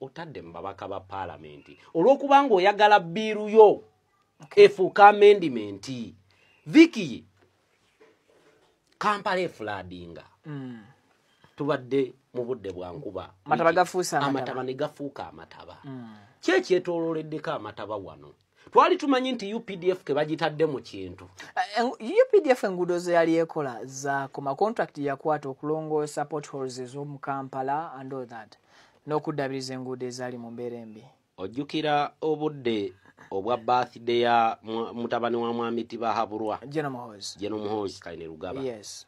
otadde mu babaka ba paalamenti olw'okubanga oyagala biiru yo efuuka amendimenti viki kampala efuladinga mm. tubadde mu budde bwa nkuba amataba ne gafuuka amataba mm. kyekyetololeddeko amataba wano twali tumanyi nti updf kebagitadde mu kintu eh, eh, updf enguudo zeyali ekola zakoma contract yakwata okulongoosa potholes ez'omu kampala and all that n'okuddabiriza enguudo ezaali mu mbeera embi ojjukira obudde obwa birthday ya mutabani wa mwami tibahabulwa jeno muhoozi kaine lugaba yes.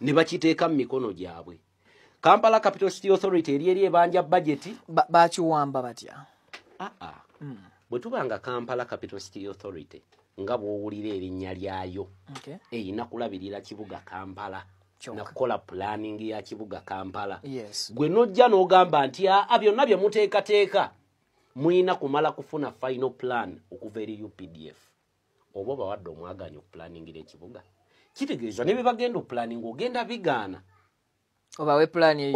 ne bakiteeka mu mikono gyabwe kampala capital city authority eri eri ebanja bajeti bakiwamba batya aa ah, ah. hmm. bwe tuba nga kampala capital city authority nga bwowulira erinnya lyayo erina kulabirira kibuga kampala nakukola planning ya kibuga kampala gwe nojja n'ogamba nti aa ah, byonna bye muteekateeka mulina kumala kufuna final plan okuva eri updf oba obawadde omwaganya okupulaningira ekibuga kitegeeza ne bye bagenda okupulaninga ogenda bigaana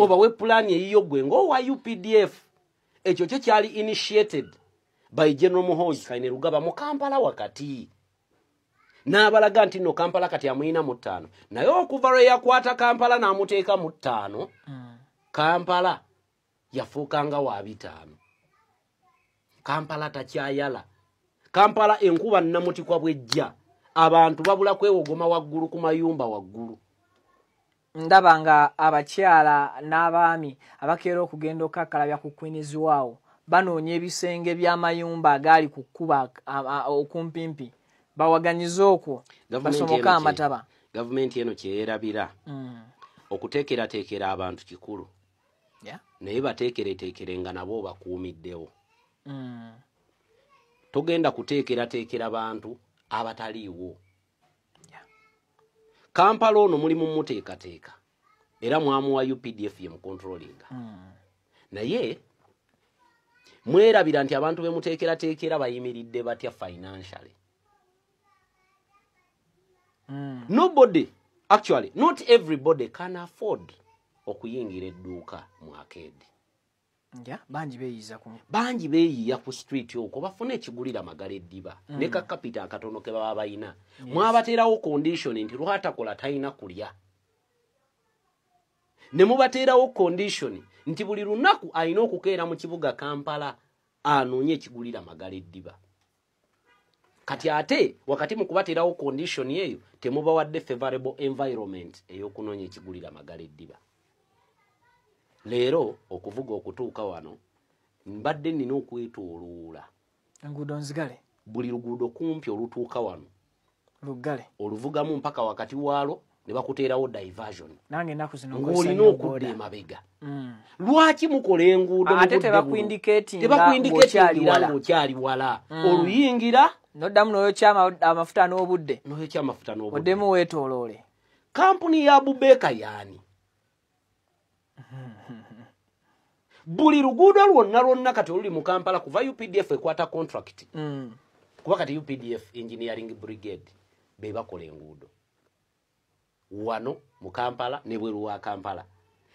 obawe pulaani eyiyo gwe ngaowa updf ekyo kyo kyali initiated by general muhoozi kaine lugaba mu kampala wakati n'abalaga nti nno kampala kati amuyina mu ttaano naye okuva lwe yakwata kampala n'amuteeka mu ttaano mm. kampala yafuuka nga wa bitaano kampala takyayala kampala enkuba nnamutikwa bwejja abantu babula kwewogoma waggulu ku mayumba waggulu ndaba nga abakyala n'abaami abakeera okugenda okukakkalabya ku kwiniziwaawo banoonya ebisenge by'amayumba agaali ku kkuba okumpimpi bawaganyize okwo basomoke amataba gavumenti eno kyeyerabira mm. okuteekerateekera abantu kikulu naye bateekereteekere nga nabo obakuumiddewo mm. togenda kuteekerateekera bantu abataliiwo kampala ono mulimu muteekateeka era mwamuwa updf ye mukontrolinga mm. naye mwerabira nti abantu bemuteekerateekera bayimiridde batya financially mm. nobody actually not everybody can afford okuyingira edduuka mu akeedi bangi beyiiza ku bangi beyiiya ku street okwo bafuna ekigulira magala eddiba mm. ne kakapita akatono ke baba balina yes. mwabateerawo condition nti lwatakola talina kulya ne mubateerawo condition nti buli lunaku alina okukeera mu kibuga kampala anoonye ekigulira magala eddiba kati ate wakati mu kubateerawo condition eyo temubawadde favorable environment ey'okunoonya ekigulira magala eddiba leero okuvuga okutuuka wano mbadde nnina okwetoloola enguudo nzigale buli luguudo kumpi olutuuka wano luggale oluvugamu mpaka wakati waalo ne bakuteerawo diversion nange enaku zino ng'olina okudda emabega mm. lwaki mukola enguudo ate tebakuindiketingiranga okyali wala mm. oluyingira noddamu noyokya amafuta n'obudde noyokya amafuta n'obudde oddemu weetooloole kampuni ya bubeeka yaani buli luguudo lwonna lwonna kati oluli mu kampala kuva updf ekwata contract mm. kuba kati updf engineering brigade be bakola enguudo wano mu kampala ne bweru wa kampala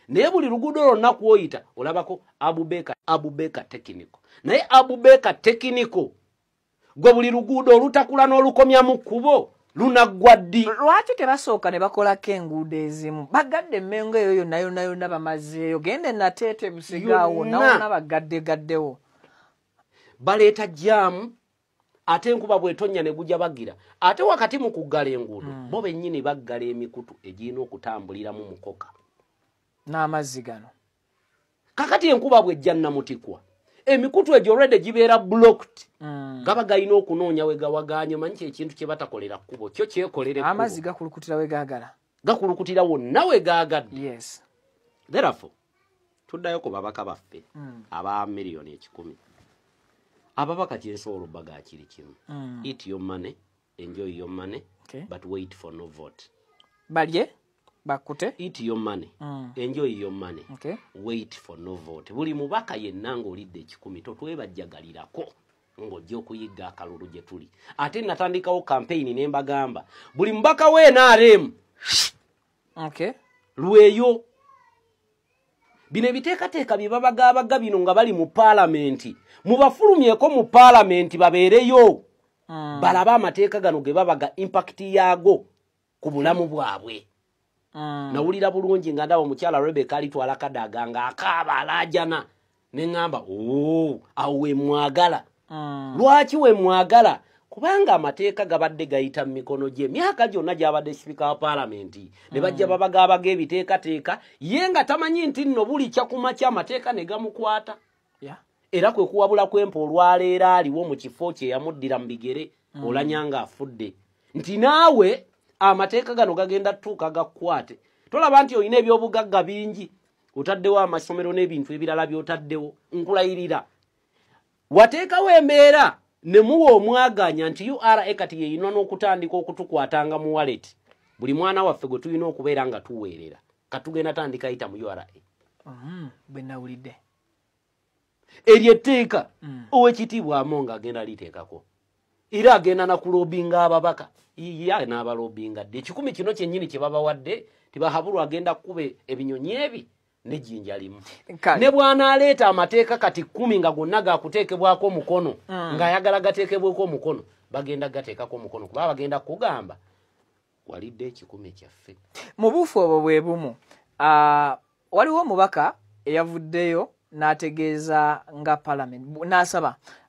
naye buli luguudo lwonna kwoyita olabako abubeka abubeka tekiniko naye abubeka tekiniko gwe buli luguudo olutakula n'olukomya mu kkubo lunaggwa ddi lwaki tebasooka ne bakolako enguudo ezimu bagadde emmengo eyo yonna yonna yonna bamazeeyo gende nateete busigaawo nawona bagaddegaddewo baleeta jaamu ate enkuba bwetonya ne gujja bagira ate wakati mu kuggala enguudo mm. bo bennyini baggala emikutu egirina okutambuliramu mukoka n'amazzi gano kakati enkuba bwejja namutikwa emikutu egyo rede gibeera blocked mm. gaba galina okunoonya wegawaganye omanyi kyekintu kyebatakolera kkubo kyo kyekolere amazzi gakulukutira wegagala gakulukutira wonna wegagadde yes. therefo tuddayo ku babaka baffe mm. aba miliyoni ekikumi ababaka kyensobola obbaga kiri kimu mm. it yo money enjoy your money okay. but wait for no vote balye bakute eat your money mm. enjoy your money okay. wait for no vote buli mubaka yenna ng'olidde ekikumi totwebajjagalirako ng'ojja okuyigga akalulu gye tuli ate natandikawo kampeyini ne mbagamba buli mubaka we nrm okay. lweyo bino ebiteekateeka bye babagaabaga bino nga bali mu paalamenti mubafulumyeko mu paalamenti babeereyo mm. balabe amateeka gano ge baba ga impact yaago ku bulamu bwabwe mm. nawulira bulungi nga ndaba omukyala rebeka alitwala kadaga nga akaaba alaajana ne ŋŋamba oo awo wemwagala mm. lwaki wemwagala kubanga amateeka gabadde gayita mu mikono gye emyaka gyonna gyabadde sipika wa paalamenti ne bajja mm. babagaabaga ebiteekateeka ye nga tamanyi nti nno bulikya ku makya amateeka ne gamukwata era kwe kuwabula kwempa olwaleero aliwo mu kifo kye yamuddira mu bigere mm. olanya nga afudde nti naawe amateeka gano gagenda tuuka gakukwate tolaba nti olina ebyobugagga bingi otaddewo amasomero n'ebintu ebirala by'otaddewo nkulayirira wateekawo embeera ne muwa omwaganya nti ura kati yeyina n'okutandika okutukwatanga mu waleti buli mwana waffe gwe tulina okubeera nga tuweerera katugenda tandika yita mu ura mm, bwenawulidde eryo etteeka mm. owekitiibwa amo nga agenda liteekako era agenda nakulobinga ababaka iya n'abalobinga dde ekikumi kino kyennyini kye babawadde tibahabulwa agenda kube ebinyonyi ebi nejjinja limu ne bw'anaaleeta amateeka kati kkumi nga gonna gakuteekebwako omukono mm. ng'ayagala gateekebweko omukono bagenda gateekako omukono kuba bagenda kugamba walidde ekikumi kyaffe mu buufu obwo bwe bumu waliwo omubaka eyavuddeyo n'ategeeza nga palamenti n'asaba